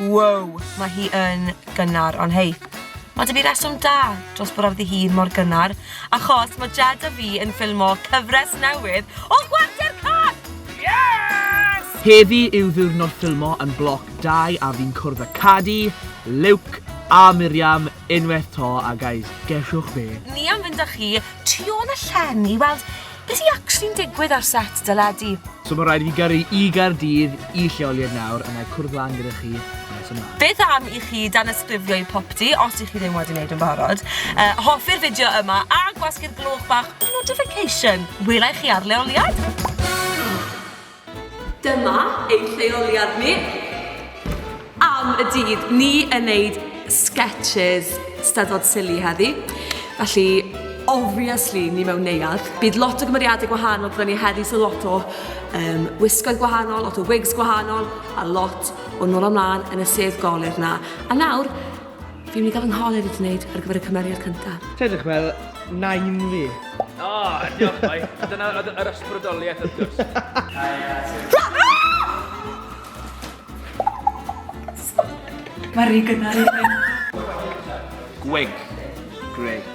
Woow, mae hi yn gynnar, ond hei, mae dy fi reswm da dros bod ar ddi hun mor gynnar, achos mae Jed a fi yn ffilmo cyfres newydd o Chwarter Cân! Yes! Heddi yw ddiwrnod ffilmo yn Bloc 2 a fi'n cwrdd â Cadi, Luke a Miriam Unwaith 'to a guys, gesiwch be? Ni am fynd â chi tu ôl y llen i weld be sy actually'n digwydd ar set deledu. So mae'n rhaid i fi gyrru i Gaerdydd i lleoliad nawr a na'i cwrdd lan gyda chi nes ymlaen. Beth am i chi danysgrifio i Popty os i chi ddim wedi wneud yn barod. Uh, hoffi'r fideo yma a gwasgu'r gloch bach notification. Welai chi ar leoliad. Dyma ein lleoliad ni am y dydd. Ni yn neud sketches steddfod silly heddi. Felly, obviously, ni mewn neuad. Bydd lot o gymeriadau gwahanol gyda ni heddi, so lot o um, wisgoedd gwahanol, lot o wigs gwahanol, a lot o nôl amlaen yn y sedd golur na. A nawr, Fi'n mynd i gael fy ngholeg i gwneud ar gyfer y cymeriad cyntaf. Ti edrych fel nain fi. O, diolch boi. Dyna oedd yr ysbrydoliaeth wrth gwrs. Mae rhy gynnar i fi. Gwig. Great.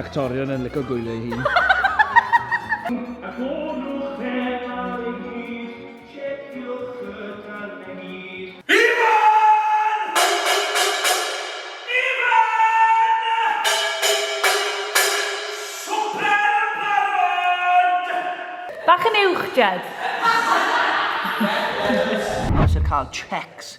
Actorion yn licio gwylio ei hun. Bach yn uwch, Jed. Mae eisiau cael checks.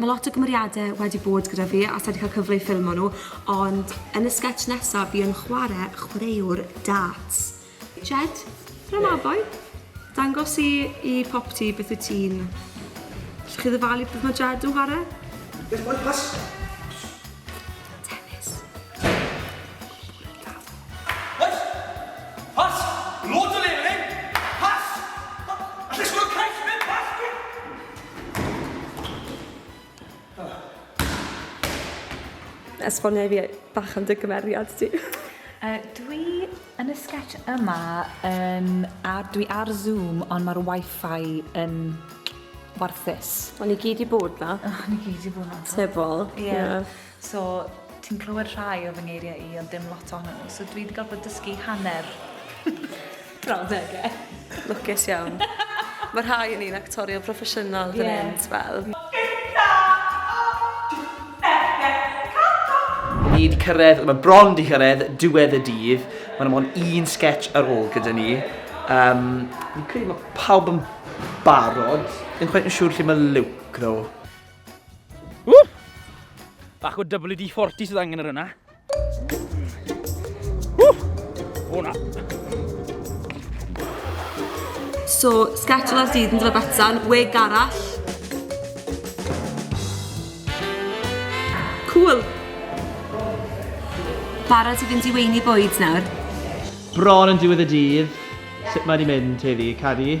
Mae lot o gymeriadau wedi bod gyda fi a sa i 'di cael cyfle i ffilmo nhw, ond yn y sgets nesa fi yn chwarae chwaraewr darts. Jed, tara Maboi! Dangos i i popty beth wyt ti'n... Allwch chi ddyfalu beth mae Jed yn chwarae? Beth mae pasta? Tenis. esbonio i fi bach am dy gymeriad ti. Uh, dwi yn y sketch yma, um, a dwi ar Zoom, ond mae'r wifi yn warthus. O'n i gyd i bod na. O'n i gyd i bod na. Tyfol. Ie. Yeah. Yeah. So, ti'n clywed rhai o fy ngeiriau i, ond dim lot ohonyn nhw. So, dwi wedi gorfod dysgu hanner brawddegau. Lwcus iawn. Mae rhai yn un actorion proffesiynol fan hyn, yeah. fel. Ni wedi cyrraedd, mae bron wedi cyrraedd, diwedd y dydd. Mae'n amon un sketch ar ôl gyda ni. Um, fi'n credu mae pawb yn barod. Ddim chwaith yn siŵr lle mae Luke, ddo. Ww! Bach o WD-40 sydd angen yr yna. Ww! O na! So, sketch last dydd yn Drybetan, wig arall. Cool! Barod i fynd i weini bwyd nawr. Bron yn diwedd y dydd, sut mae wedi mynd, Tefi? Cadi?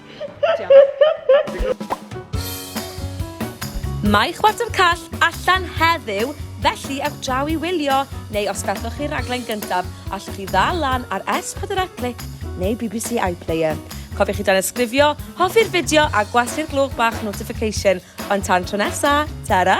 Mae Chwarter Call allan heddiw, felly ewch draw i wylio, neu os gallwch chi'r raglen gyntaf, allwch chi ddal lan ar S4 Click neu bbc iPlayer. Cofiwch i danysgrifio, hoffi'r fideo a gwasu'r gloch bach notification. Ond tan tro nesa, ta-ra!